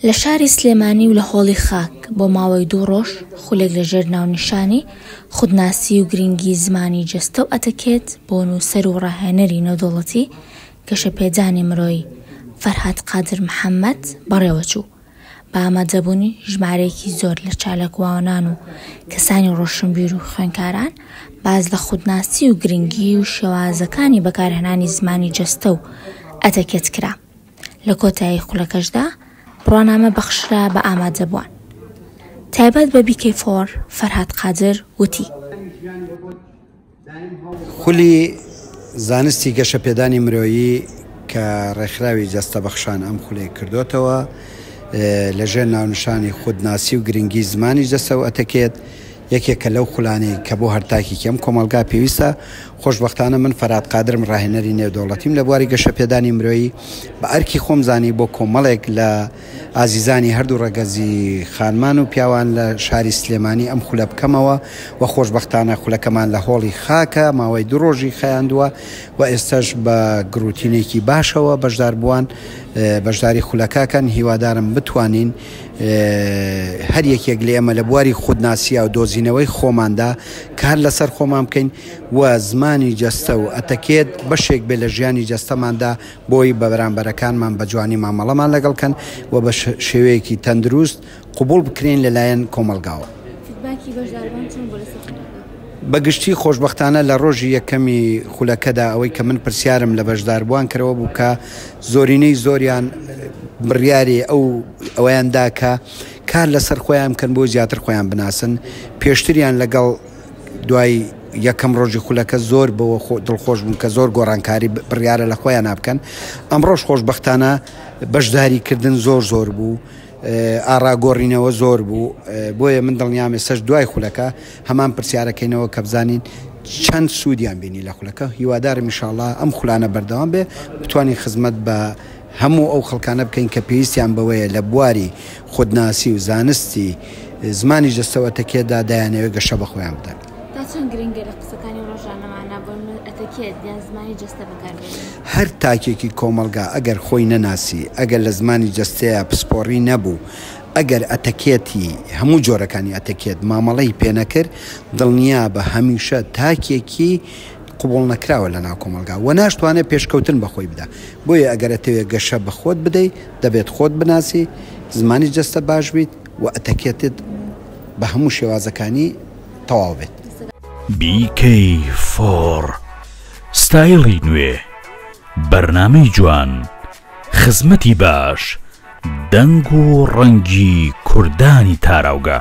لە شاری سلێمانی و لە هۆڵی خاک بۆ ماوەی دوو ڕۆژ خولێک لەژێر ناونیشانی، خودناسی و گرینگی زمانی جەستە و ئەتەکێت، بۆ نووسەر و ڕاهێنەری نێودەوڵەتی گەشەپێدانی مرۆیی، فەرهاد قادر محەممەد، بەڕێوەچوو. بە ئامادەبوونی ژمارەیەکی زۆر لە چالاکوانان و کەسانی ڕۆشنبیر و خوێنکاران باز لە خودناسی و گرنگی و شێوازەکانی بەکارهێنانی زمانی جەستە و ئەتەکێت کرا لە کۆتایی خولەکەشدا بڕوانامە بەخشرا بە ئامادەبووان تایبەت بە بیکەی فۆر فەرهاد قادر وتی خولی زانستی گەشەپێدانی مرۆیی کە ڕێکخراوی جەستە بەخشان ئەم خولەی کردۆتەوە لە ژێر ناونشانی خود ناسی و گرنگی زمانی جەستە و ئەتەکێت یەکێکە لەو خولانەی کە بۆ هەرتاکێکی ئەم کۆمەڵگا پێویستە خۆشببختانە من فەرات قادرم ڕاهێنەری نێودەوڵەتیم لە بواری گەشەپێدانی مرۆیی بە ئەرکی خۆم زانی بۆ کۆمەڵێک لە ئازیزانی هەردوو ڕەگەزی خانمان و پیاوان لە شاری سلێمانی ئەم خولە بکەمەوە و خۆشبەختانە خولەکەمان لە هۆڵی خاکە ماوەی دوو ڕۆژی خەیاندووە و ئێستەش بە گروتینێکی باشەوە بەشداربووان بەشداری خولەکەکەن هیوادارم بتوانین هەر یەکێک لە ئێمە لە بواری خودناسییا و دۆزینەوەی خۆماندا کار لەسەر خۆمان بکەین و زمانی جەستە و ئەتەکێت بەشێک بێ لە ژیانی جەستەماندا بۆی بەرامبەرەکانمان بە جوانی مامەڵەمان لەگەڵ بکەن و بە شێوەیەکی تەندروست قبوڵ بکرێین لەلایەن کۆمەڵگاوە. فیدباکی بەشداربان چۆن بوو لەسەر خولەکە؟ بەگشتی خۆشبەختانە لە ڕۆژی یەکەمی خولەکەدا ئەوەی کە من پرسیارم لە بەشداربووان کرد ئەوە بوو کە زۆرینەی زۆریان بڕیاری ئەو ئەوەیان دا کە کار لەسەر خۆیان بکەن بۆ زیاتر خۆیان بناسن پێشتریان لەگەڵ دوای یەکەم ڕۆژی خولەکە زۆر بەوە دڵخۆش بوون کە زۆر گۆڕانکاری بڕیارە لە خۆیان نابکەن ئەمڕۆژ خۆشببختانە بەشداری کردن زۆر زۆر بوو ئاراگۆڕینەوە زۆر بوو بۆیە من دڵنیامێ سەر دوای خولەکە هەمان پرسیارەکەینەوە کە بزانین چەند سوودیان بینی لە خولەکە هیوادارم میشاءله ئەم خولانە بەردەوام بێ بتوانین خزمەت بە هەموو ئەو خەڵکانە بکەین کە پێویستیان بەوەیە لە بواری خودناسی و زانستی زمانی جەستەو ئەتەکێتدا دەیانەوێت گەشە بە خۆیان بدەن. تا چەند گرنگە لە قسەکانی ڕۆژانەماندا بۆ نمونە ئەتەکێت یان زمانی جەستە بەکاربێنین؟ هەر تاکێکی کۆمەڵگا ئەگەر خۆی نەناسی، ئەگەر لە زمانی جەستەیا پسپۆڕی نەبوو، ئەگەر ئەتەکێتی، هەموو جۆرەکانی ئەتەکێت، مامەڵەی پێنەکرد، دڵنیابە هەمیشە تاکێکی قبوڵ نەکراوە لە ناو کۆمەڵگا و ناشتوانێت پێشکەوتن بە خۆی بدا. بۆیە ئەگەر ئەتەوێت گەشە بە خۆت بدەیت، دەبێت خۆت بناسی، زمانی جەستە باش بیت و ئەتەکێتت بە هەموو شێوازەکانی تەواو بێت. BK فۆر ستایڵی نوێ، بەرنامەی جوان، خزمەتی باش، دەنگ و ڕەنگی کوردانی تاراوگە.